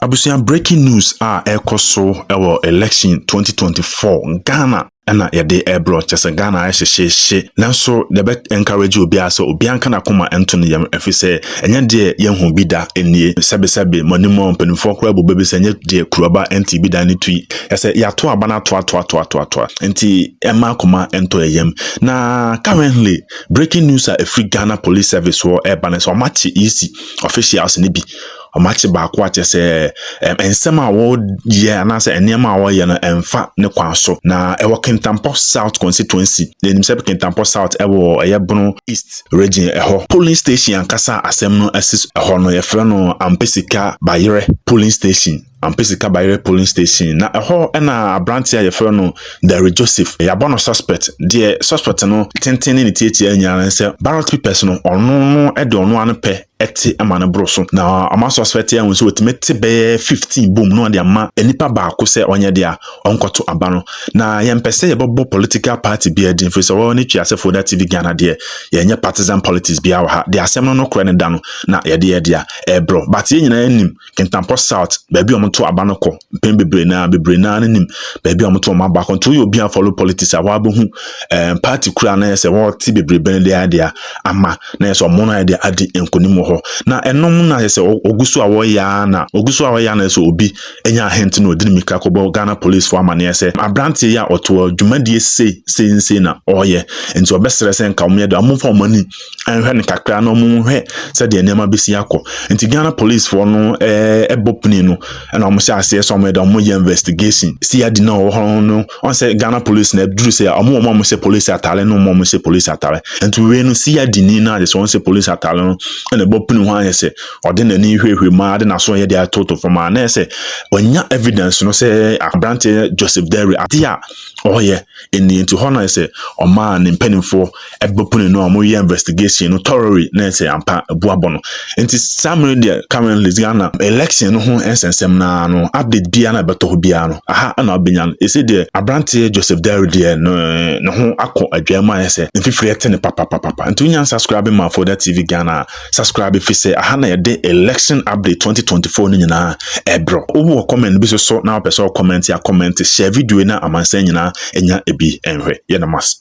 Abusua breaking news a ɛrekɔ so wɔ election 2024 Ghana ɛna yɛde ɛrebrɛ kyɛ sɛ Ghana ayɛ hyehyeehye nanso deɛ ɛbɛ encourage obiara sɛ obiara nka n'akoma nto ne yam ɛfiri sɛ ɛnyɛ deɛ yɛhu bi da nie sɛbesɛbe mo anim a mpanimfoɔ koraa bu bɛbi sɛ ɛnyɛ deɛ kuruaba nti bi da ne tui ɛsɛ yɛato aba no ato ato ato ato ato nti ɛma akoma nto yɛ yam na currently breaking news a ɛfiri Ghana Police Service wɔ ɛreba no sɛ wɔakye EC officials no bi Wɔakye baako a kyerɛ sɛ ɛm, nsɛm a wɔyɛ anaasɛ nneɛma a wɔyɛ no ɛmfa ne kwan so. Na ɛwɔ Kintampo South Constituency. Yɛnim sɛ Kintampo South ɛwɔ ɛyɛ Bono East Region ɛhɔ. Polling station ankasa a asɛm no asi ɛhɔ no, yɛfrɛ no Ampesika Bayerɛ Polling Station. Ampesika Bayerɛ Polling Station. Na ɛhɔ na aberanteɛ a yɛfrɛ no Derry Joseph, yɛabɔ no suspect. Deɛ suspect no tenten ne ne tiatia nyinaa ne sɛ, ballot papers no, ɔno no de ɔno ara no pɛ te ma no boro so. Na wɔasɔ asɔɛte ahu sɛ wɔtumi te bɛyɛ 15 bom na wɔde ama nipa baako sɛ ɔnyɛ dea, ɔnkɔto aba no. Na yɛmpɛ sɛ yɛbɛbɔ political party biara din, ɛfiri sɛ wɔwɔ ne twi ase Foda TV Ghana deɛ, yɛnyɛ partisan politics biara wɔ ha. Deɛ asɛm no nokorɛ no da no, na yɛde yɛ dea, ɛrebrɔ. But yɛn nyinaa nim Kintampo South, baabi a wɔto aba no kɔ mpɛn bebree na bebree na no nim baabi a wɔto wɔn aba kɔ. Nti woyɛ obi a follow politics a wɔabɛhu ɛɛm eh, party kura na yɛ sɛ wɔte bebree bɛn de ayɛ deɛ ama na yɛ sɛ wɔn na yɛ deɛ adi nkonim wɔ hɔ. Na ɛnom na yɛ sɛ wɔgu so a wɔyɛ ara na wɔgu so a wɔyɛ ara na yɛ sɛ obi anya ahente na ɔdi ne mika kɔbɔ Ghana police fo amaneɛ sɛ aberanteɛ yi a ɔtoɔ dwumadie sei sei sei na ɔyɛ nti ɔbɛsrɛ sɛ nka wɔn yɛ deɛ wɔn mfa wɔn ani nhwɛ no kakra na wɔn nhwɛ sɛdeɛ nneɛma bɛsi akɔ nti ghana policefoɔ no ɛɛ eh, ɛbɔ pini no ɛna wɔn hyɛ aseɛ sɛ wɔn ɛda wɔn yɛ investigation si adi na ɔwɔ hɔ no wɔn sɛ ghana police na ɛduru sɛ wɔn wɔn a wɔn hyɛ police ataare no wɔn wɔn hyɛ police ataare nti wei no si adi ni na agye sɛ wɔn hyɛ police ataare no ɛna ɛbɔ pini ho ayɛ sɛ ɔde n'ani hwehwɛ mu ade n'aso yɛ de atoto fam a na yɛ sɛ wɔnya evidence no sɛ aberanteɛ joseph derry adeɛ a ɔyɛ Ɛnni nti hɔ na sɛ ɔmaa ne mpanimfoɔ bɛpone no a wɔyɛ investigation no thoroughly na sɛ ampa bu abɔ no. Nti saa mmerɛ deɛ currently Ghana election no ho nsɛnsɛm no ara no update biara na ɛbɛtɔ hɔ biara no aha na wobɛnya no. Ɛsɛ deɛ aberanteɛ Joseph Dawri deɛ no ne ho akɔ adwaa mu ayɛ sɛ mfifire te no papapapapa. Nti wonya subscribing man for that TV Ghana a Subscribe efisɛ aha na yɛde election update twenty twenty four no nyinaa ɛbrɛ. Wowɔ comment bi so so na wopɛ sɛ ɔkɔmɛnte a comment hyɛ video yi na amansan nyinaa anya ebi nhwɛ. Yɛ no mas.